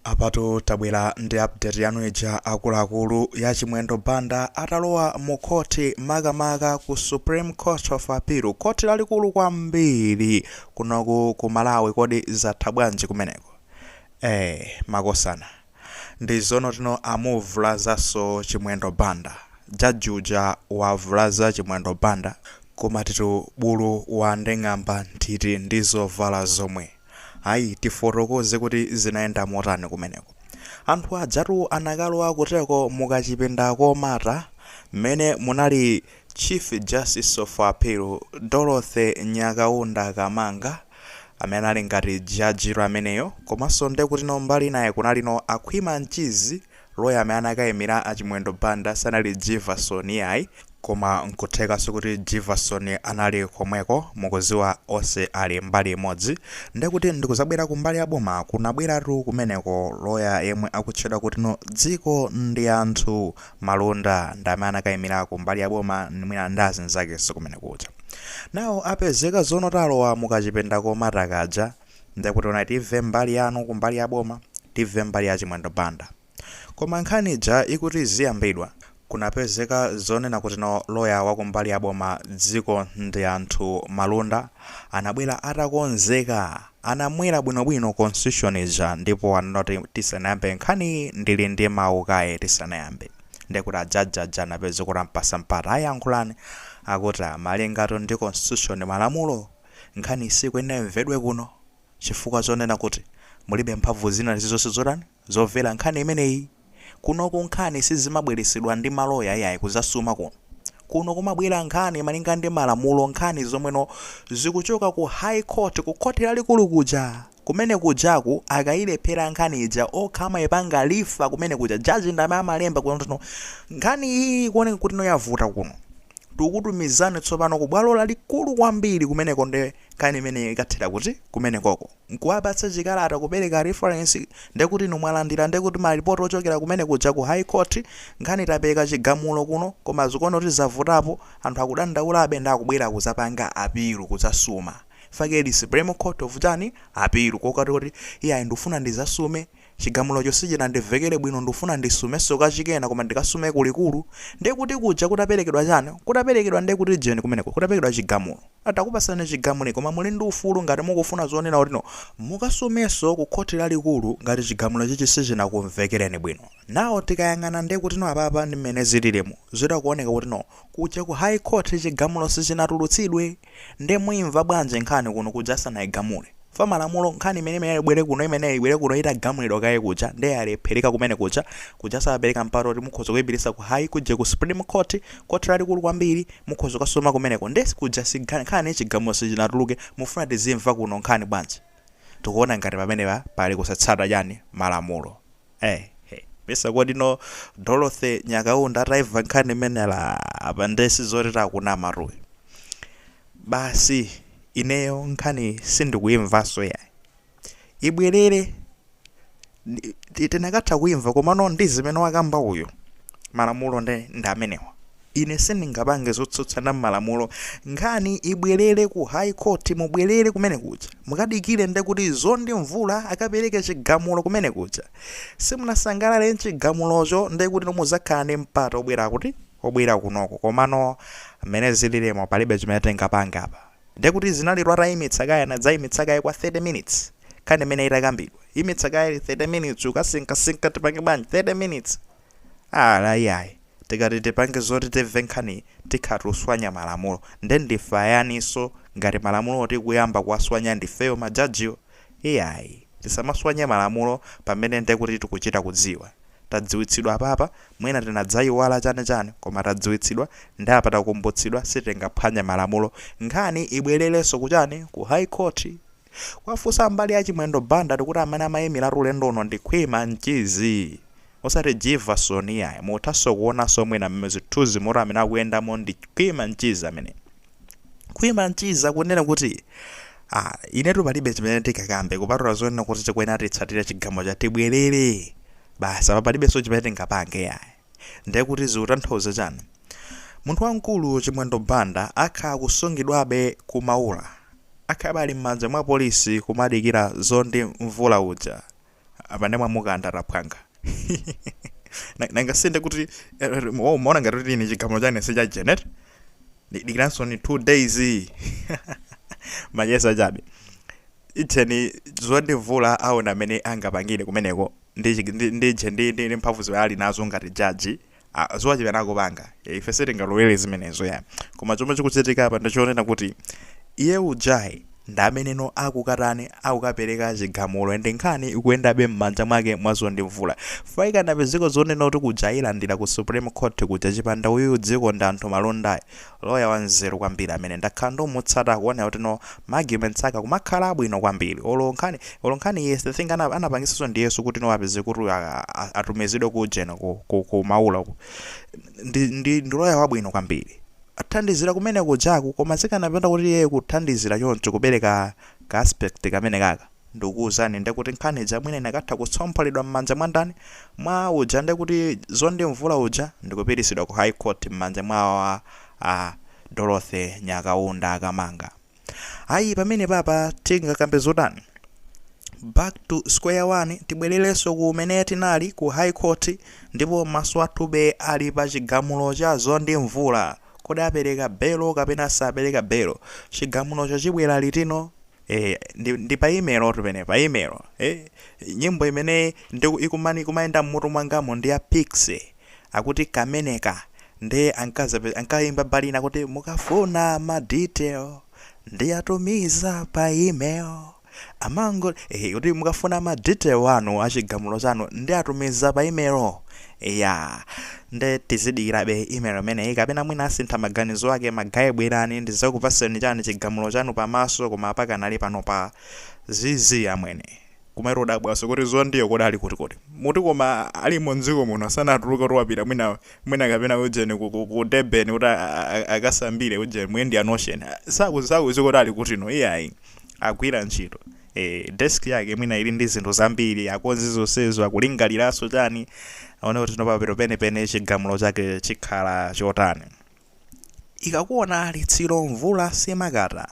Apatu tabwera ndi update yanu ija akuluakulu ya Chimwendo Banda atalowa mu khoti makamaka ku Supreme Court of Appeal, khoti lalikulu kwambiri kunoku ku Malawi. Kodi zatha bwanji kumeneko? Eh, makosana ndi zonotino amuvulazanso Chimwendo Banda. Jaji uja wavulaza Chimwendo Banda, kumatitu bulu wanding'amba nthiti ndi zovala zomwe. Ayi, tifotokoze kuti zinayenda motani kumeneko. Anthu ajatu anakalowa kuteko mu kachipinda komata mmene munali Chief Justice of Appeal Dorothy Nyakaunda Kamanga, amene anali ngati jajiyo ameneyo, komanso nde kutino mbali inayi kunalino a Khwima Mchizi Lawyer amene anakaimira a Chimwendo Banda sanali Jivason iyayi, koma nkuthekanso kuti Jivason anali komweko, mukuziwa onse ali mbali imodzi, ndekuti ndikuzabwera kumbali ya boma kunabweratu kumeneko lawyer yemwe akutchedwa kutino Dzikondianthu Malunda ndi amene anakaimira kumbali ya boma mwina ndi azinzakenso kumene kuja. Now apezeka zono talowa mukachipinda komata kaja. ndekutino ayi tive mbali yanu kumbali ya boma tive mbali ya chimwendo banda koma nkhani ija ikuti iziyambidwa kunapezeka zonena kuti no loya wa kumbali ya boma dzikondianthu malunda anabwera atakonzeka anamwera bwinobwino constitution ija ndipo ananoti tisanayambe nkhani ndili ndi mawu kaye tisanayambe ndekuti ajaji aja anapezeka kuti ampasa mpata ayi yankhulani akuti malingatu ndi constitution malamulo Nkhaniyi siyikuyenera imvedwe kuno chifukwa chonena kuti mulibe mphamvu zina lizizonse zotani zovera nkhani imeneyi. Kunoku nkhani sizimabweresedwa ndi maloya iyayi kuzasuma kuno. Kuno kumabwera nkhani malinga ndi malamulo nkhani zomweno zikuchoka ku high court ku khoti lalikulu kuja. Kumene kujaku akayilephera nkhani ija okha amayipanga refer kumene kuja judge ndi amene amalemba kunotu nkhani iyi ikuoneka kuti no yavuta kuno tikukutumizani tsopano ku bwalo lalikulu kwambiri kumeneko nde nkhani imeneyo ikathera kuti kumenekoko n'kuwapatsa chikalata kupereka reference nde kuti inu mwalandira nde kuti malipoti ochokera kumene kuja ku high court nkhani tapereka chigamulo kuno koma zikuoneka kuti zavutapo anthu akudandaulabe nde akubwera kudzapanga apilu kudzasuma fakeli supreme court of chani appeal kokati oti iyayi ndufuna ndizasume chigamulocho sichinandivekele bwino ndufuna ndisumeso kachikena koma ndikasume kulikulu ndekuti kuja kutapelekedwa chani kutapelekedwa ndekuti ujeni kumeneko kutapelekedwa chigamulo takupasani chigamulo koma muli ndi ufulu ngati mukufuna zonena kuti no mukasumeso ku court lalikulu ngati chigamulo chichi sichinakumvekeleni bwino now tikayang'ana ndekuti no apapa ndi mmene zililimu zikuoneka kuti no kuja ku high court chigamulo sichinatulutsidwe Nde muimva bwanji nkhani kuno kuja asanaigamule? Mwa malamulo nkhani imene imeneyo ibwere kuno imeneyo ibwere kuno itagamulidwa kaye kuja, nde yalephereka kumene kuja. Kuja amapereka mpata oti mukhoza kuipititsa ku high kuje ku supreme court, court lalikulu kwambiri mukhoza kukasuma kumeneko nde kuja nkhani chigamulo sichinatuluke mufuna tizimva kuno nkhani bwanji? Tikuona ngati pamenepa pali kusatsata chani malamulo. Hey hey mesa kodi ndi Dorothy Nyakaunda ataimva nkhani imeneyi apa nde sizoti tikunamatu ayi basi ineyo nkhani sindikuimvanso yayi ibwerere Ndi- ti- tikanatha kuimva komano ndi zimene wakamba uyu malamulo ndi ndi amenewa Ine sindingapange zotsutsana ndi malamulo. Nkhani ibwelere ku high court mubwelere kumene kuja mukadikire nde kuti Mzonde Mvula akapereke chigamulo kumene kuja. Simunasangalale nchigamulocho nde kutino muzakhala ndi mpata obwera kuti? Obwera kunoko. Komano mmene zililimu palibe chimene tingapange apa. Nde kuti zinalitu atayimitsa kaye anadzayimitsa kaye kwa 30 minutes nkhani mmene itakambidwa. Yimitsa kaye 30 minutes akusinkhasinkha tipange bwanji 30 minutes. Ah, Iyayi. Tikati tipange zoti timve nkhaniyi tikhala tikuswanya malamulo. Nde ndife ayaninso ngati malamulowo tikuyamba kuwaswanya ndifeyo ma judgewo? Iyayi. Tisamaswanye malamulo pamene nde kuti tikuchita kudziwa. Tadziwitsidwa apapa, mwina tinadzaiwala chani chani koma tadziwitsidwa nde apa takumbutsidwa sitingaphwanye malamulo. Nkhani ibwelerenso kuchani? Ku High Court. Kuwafunsa a mbali ya Chimwendo Banda tikuti amene amamuimiratu ulendo uno ndi Khwima Mchizi osati Jivason iyayi. Muthaso kuonaso mwina mmene zithuzi muti amene akuyendamo ndi Khwima Mchizi amene. Khwima Mchizi akunena kuti ah inetu palibe chimene ndingakambe kupatula zonena kuti tikuyenera titsatire chigamulo cha tibwelere basi apa palibeso chimene tingapange iyayi. Nde kuti zikutanthauza chani? Munthu wamkulu Chimwendo Banda akhala akusungidwabe ku Maula? Akhalabe ali mmanja mwa polisi kumadikira Mzonde Mvula uja? Apa nde mwamukantha aphwanga. Nanga si nde kuti mmaona ngati kuti ine chigamulo changa si cha jen eti? Ndikudikiritsansoni 2 days. Macheza chabe. Ijeni Mzonde Mvula aone mmene angapangire kumeneko. ndi chi- ndi ndi chi- ndi ndi ndi mphamvu zimene ali nazo ngati jaji ah, ziwachita nako panga Eh, ife sitingalowere zimenezo ya koma chomwe chikuchitika apa ndichonena kuti iye ujayo ndi ameneno akukatani akukapereka chigamulo ende nkhani ikuyendabe m'manja mwake mwa Mzonde Mvula faikana padziko zonena kuti kuja yailandira ku supreme court kuja chipanda uyu dziko ndi anthu malondayi Lawyer wanzeru kwambiri amene ndakhala ndikumutsata akuonera kuti no ma arguments ake akumakhala abwino kwambiri olo nkhani olo nkhani yes the thing ana, anapangisanso ndi Yesu kuti no apeze kuti a- a- a- atumizidwe ku ujeni ku, ku, ku maula uku. ndi, ndi, ndi lawyer wabwino kwambiri athandizira kumene kujaku koma chikanapanda kuti iye kuthandizira choncho kupereka ka aspect kamene kaka Ndikukuuzani nde kuti nkhani ija mwina ikanatha kutsompholedwa mmanja mwa ndani? Mwa uja nde kuti Zondi Mvula uja ndikupititsidwa ku High Court mmanja mwa a a Dorothy Nyakaunda Kamanga. Ayi pamenepapa tingakambe zotani? Back to square one tibwelelenso kumene tinali ku High Court ndipo maso athu ali pa chigamulo cha Zondi Mvula. Kodi apeleka belo kapena sapeleka belo? Chigamulocho chibwela litino? Eh, ndi, ndi pa email otu penepa email eh, nyimbo imene ikuma- ikumayenda mmutu mwangamo ndi ya Pixie akuti kameneka ndi ankazape- ankayimba mbali ina kuti mukafuna ma detail ndiyatumiza pa email amango eh, kuti mukafuna ma detail anu achigamulo chanu ndiyatumiza pa email ya nde tizidikirabe email imeneyi kapena mwina asintha maganizo ake ma guy bwerani ndizakupaseni chani chigamulo chanu pamaso koma apakanali pano pa zizi amwene kumero dabwanso kuti Zondiyo kodi ali kuti kodi mmati koma alimo mdziko muno sanatuluke kuti wapita mwina mwina kapena ujeni ku, ku, ku Durban kuti a- a- a- akasambire ujeni mu indian ocean sitikuziwa kuti ali kutino iyayi agwira ntchito ee desk yake mwina ili ndi zinthu zambiri akonze zonsezo akulingaliranso chani aone kuti no apa penepene chigamulo chake chikhala chotani ikakuona litsiro mvula siimakata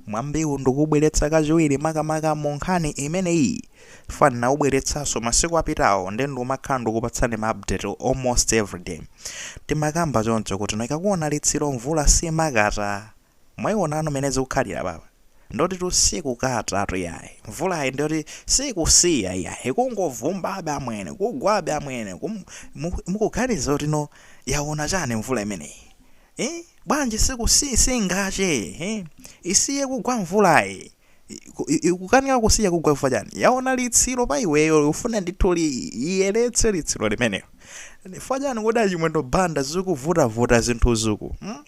mwambiwu ndikuubweretsa kachiwiri makamaka mu nkhani imeneyi mwina ndinaubweretsanso masiku apitawo nde ndikumakhala ndikupatsani ma update almost everyday timakamba choncho kuti ikakuona litsiro mvula simakata Mwayionatu mene zikukhalira apapa ndiotitu sikukatatu iyayi mvulayi ndioti sikusiya iyayi ikungovumbabe amwene kugwabe amwene kum, mu, mukuganiza kuti no yaona chani mvula imeneyi eh? bwanji siku si, singakate eh? isiye kugwa mvulayi Iku- i- ikukanika kusiya kugwa chifukwa chani yaona litsiro pa iweyo ifuna ndithu li iyeretse litsiro limenelo chifukwa chani kodi a Chimwendo Banda zikuvutavuta zinthu zuku hmm?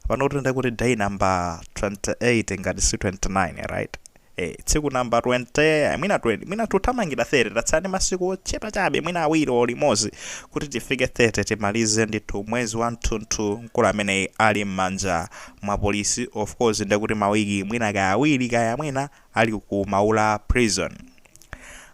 pano kuti nde kuti day number 28 ngati si 29 right eh tsiku number 20 mwina 20 mwina tikuthamangira 30 tatsala ndi masiku ochepa chabe mwina awiri o limodzi kuti tifike 30 timalize ndithu mwezi wa tunthu mkulu ameneyu ali m'manja mwa apolisi of course nde kuti mawiki mwina kaya awiri kaya mwina ali ku maula prison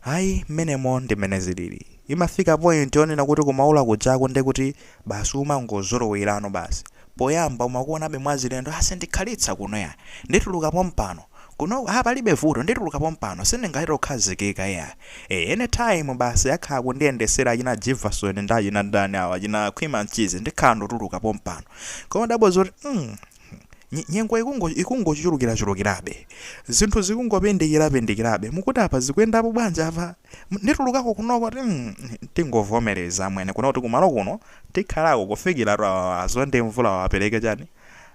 ayi mmenemo ndi mmene zilili imafika point yonena kuti ku maula kujako nde kuti basi umangozolowerano basi poyamba umakuonabe mwazilendo ah sindikhalitsa kuno ayi ndituluka pompano kuno ah palibe vuto ndituluka pompano sindingalore kukhazikika ayi eh anytime basi akhala kundiyendesera achina jivason ndi achina ndani awa achina khwima mchizi ndikhala nditatuluka pompano koma kudabwa zoti mm, Nyengo ikungochulukirachulukirabe, zinthu zikungopindikirapindikirabe. Mukuti apa zikuyendapo bwanji apa? Nditulukako kunoko kuti mm, tingovomereza amwene kuno kuti ku maula kuno tikhalako kufikira a Mzonde Mvula wapereke chani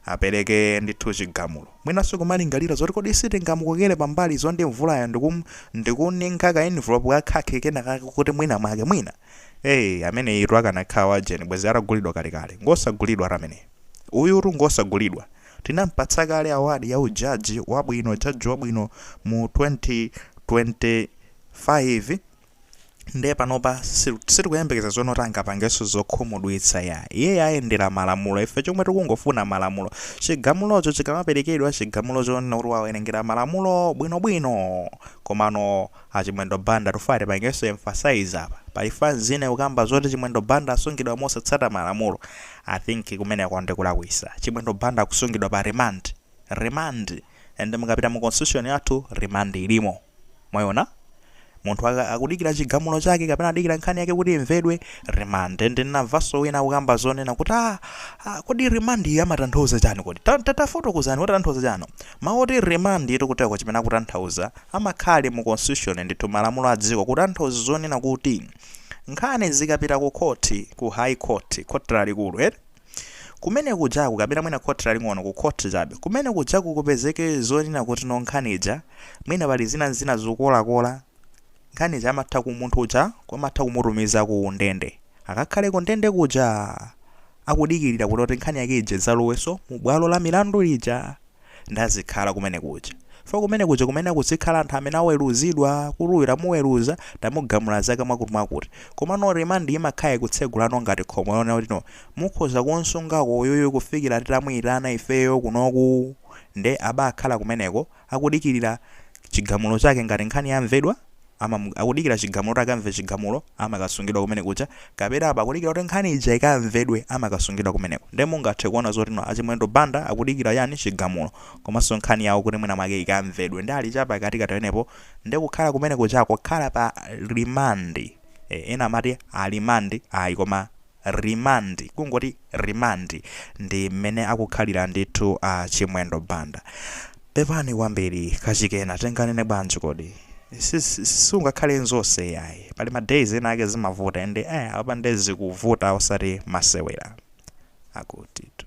apereke ndithu chigamulo mwinanso kumalingalira zoti kodi sitingamukokere pambali Mzonde Mvulayo ndikum- ndikumuninkha ka envelope ka khaki kenakake kuti mwina mwake mwina ee ameneyutu akanakhala wajeni bwezi atagulidwa kalekale ngosagulidwa ati ameneyo Uyutu ngosagulidwa. Tinampatsa kale award ya u judge wabwino, judge wabwino mu 2025 nde panopa si- sitikuyembekeza zonena kuti angapangenso zokhumudwitsa ayi. Iye ayendera malamulo. Ife chomwe tikungofuna malamulo. Chigamulocho chikamaperekedwa, chigamulo chonena kuti wawerengera malamulo bwinobwino. Komano Achimwendo Banda tikufuna tipangeso emphasize apa pali fan zina ikukamba zoti chimwendo Banda akusungidwa mosatsata malamulo I think kumeneko ndikulakwisa chimwendo Banda akusungidwa pa remand remand and mukapita mu constitution yathu remand ilimo mwaiona munthu akamadikira chigamulo chake kapena akudikira nkhani yake kuti imvedwe remand and ndinamvaso wina akukamba zonena kuti ah, ah kodi remand iyi imatanthauza chani kodi Ta- ta- tafotokozani kuti akutanthauza chani mawu oti remand etikuteko chimene akutanthauza imakhala ili mu constitution ndithu malamulo a dziko kutanthauza zonena kuti nkhani ikapita ku khoti ku high court khoti lalikulu eti kumene kujaku kapena mwina khoti laling'ono ku khoti chabe kumene kujaku kupezeke zonena kuti no nkhani ija mwina pali zina zina zokolakola nkhani ija amatha ku munthu uja kumatha kumutumiza ku ndende akakhale ku ndende kuja akudikirira kuti kuti nkhani yake ija izalowenso mu bwalo la milandu lija nde azikhala kumene kuja fo kumene kuja kumene kuzikhala anthu amene aweruzidwa kuti uyu tamuweruza tamugamula zaka mwakuti mwakuti koma no remand imakhala ikutsegulano ngati khomo yonena kuti no mukhoza kunsungako uyuyu kufikira titamuyitana ifeyo kunoku nde abakhala kumeneko akudikirira chigamulo chake ngati nkhani yamvedwa amam, akudikira chigamulo kuti akamve chigamulo amakasungidwa kumene kuja kapena apo akudikira kuti nkhani ija ikamvedwe amakasungidwa kumeneko nde mungathe kuona zoti no achimwendo Banda akudikira chani chigamulo komanso nkhani yawo kuti mwina mwake ikamvedwe nde ali chapakatikati pamenepo nde kukhala kumene kuja kukhala pa remand eh, ena amati alimandi ayi koma Remand, kungoti remand ndi mmene akukhalira ndithu a Chimwendo Banda. Pepani kwambiri, kachikena tinganene bwanji kodi? Si, si, si, siungakhale zonse iyayi. Pali ma days ena ake zimavuta and eh, apa nde zikuvuta osati masewera. Akutitu.